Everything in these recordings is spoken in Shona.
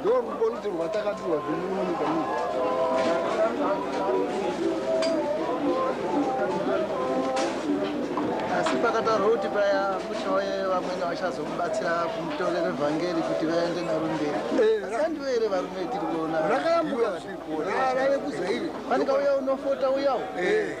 ndorukonzi rwatakapiwa zvemunomuka asi pakataurwa kuti paya kuchauye vamwene vachazomubatsira kumutorera evhangeri kuti vaende naro mberi eh, asi andivo here varume tiri kuona rakayambuka vave kuzaive pane kauya unofota uyawo eh.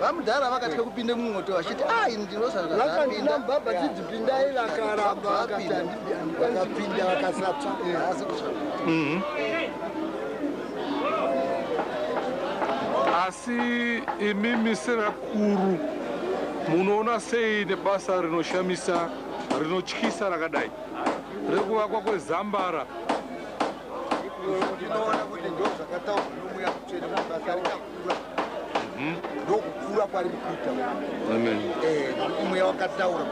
vamudhara vakatya kupinda mumwoto vachiti ah, ini ndinosaakapinda baba dzidzi pindai vakaramba vakapinda vakapinda vakasatsva asi kutsva mhm. asi imimi sevakuru munoona sei nebasa rinoshamisa rinotyisa rakadai rekuvakwa kwezambara ndinoona kuti ndo zvakataurwa nomuya kutsvene mubasa mhm. ndokukura kwari mukuita mweya wakataura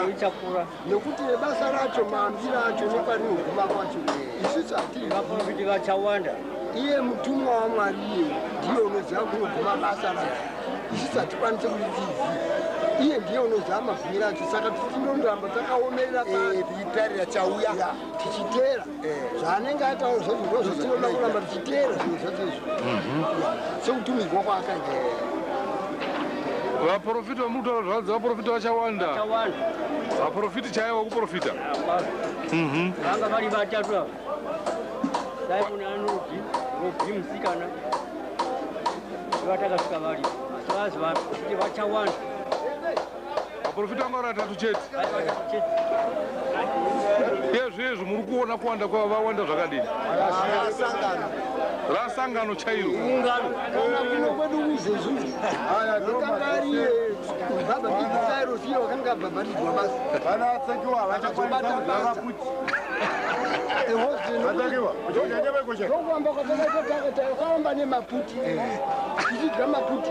kuichakura nekuti nebasa racho mambi racho nekwarinoguma kwacho isusu hatiri vafumbi vachawanda iye mutumwa wamwari iye ndiye unoziva kunoguma basa racho isusu hatikwanise kuitiziva iye ndiye unoziva mavhumira acho saka tichindondoramba takaomerera eh, tichitarira chauya tichiteera zvaanenge ataura zvacho ndo zvatinoda kuramba tichiteera zvinhu zvacho izvo sekutumidzwa kwaakaita vaprofita vamuri kutaura zvavanzi vaprofita vachawanda vaprofiti chaiva kuprofita vanga vari vatatu ava simon anodi robi musikana vatakasvika vari asi vazi vakuti vachawanda vaprofita vanga vari vatatu chete yezvezvo muri kuona kuwanda kwavo vawanda zvakadini rasangano chairo ndokuamba kwatakaita takatanga kwaamba nemaputi tichidya maputi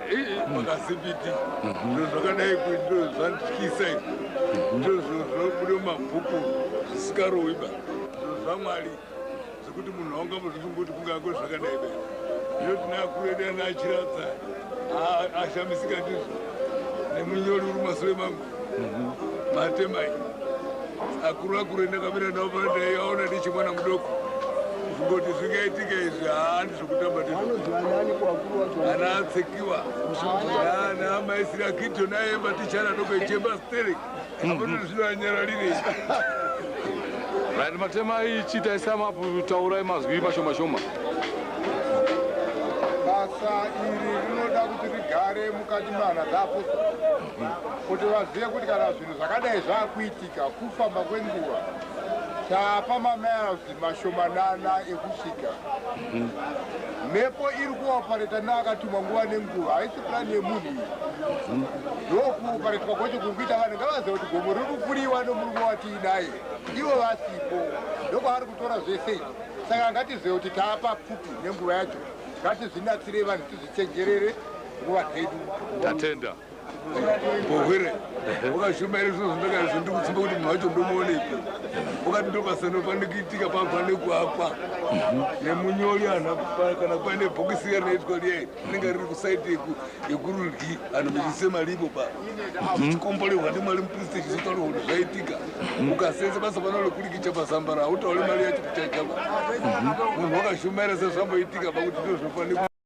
makazibiti zviro zvakadai kuito zvandityisa ito zviro zvobuda mumabhuku zvisikarowiba zviro zvamwari zvekuti munhu aungamuzvifunga kuti kungako zvakadai be zviro tinakuredana achiratsa ashamisika ndizvo nemunyori uri masure mangu matemai akuru akuru endakamira navo pandaiaona ndichimwana mudoko zvingoti zvingaitika izvi haandi zvokutamba ndiana atsekiwa ana amaisiri akito naye matichana doko ichemba steri apono zvino anyaralire vanhu matema ichi taisamapu taurai mazwi mashoma shoma basa iri rinoda kuti rigare mukati mehana dzapo kuti vazive kuti kana zvinhu zvakadai zvakuitika kufamba kwenguva tapa mamirsi mashomanana ekusvika mhepo iri kuopareta neakatumwa nguva nenguva haisi purani yemunhu iyi ndokuoparetwa kwacho kuri kuita vanhu ngavaziva kuti gomo riri kufuriwa nomurume watiinaye ivo vasipo ndokwaari kutora zvese izvi saka ngatizive kuti tapa pfupi nenguva yacho ngatizvinatsirei vanhu tizvichenjerere nguva dzedu tatenda bohwere ukashuma here zvino zvindakaizvo ndikusimba kuti munhu wacho ndomuonepi ukati ndobasa nofane kuitika pafane kuakwa nemunyori anhu kana paine bhokisi riya rinoitwa riya rinenge riri kusaiti yekurudyi anhu mechise mari ipo pa chikomborehwa ndimari mupristi chizotaura kuti zvaitika ukasenza basa pana rekurikicha pazambara hautaure mari yacho kuchaichapa munhu wakashumaira sezvamboitika pakuti ndozvinofanira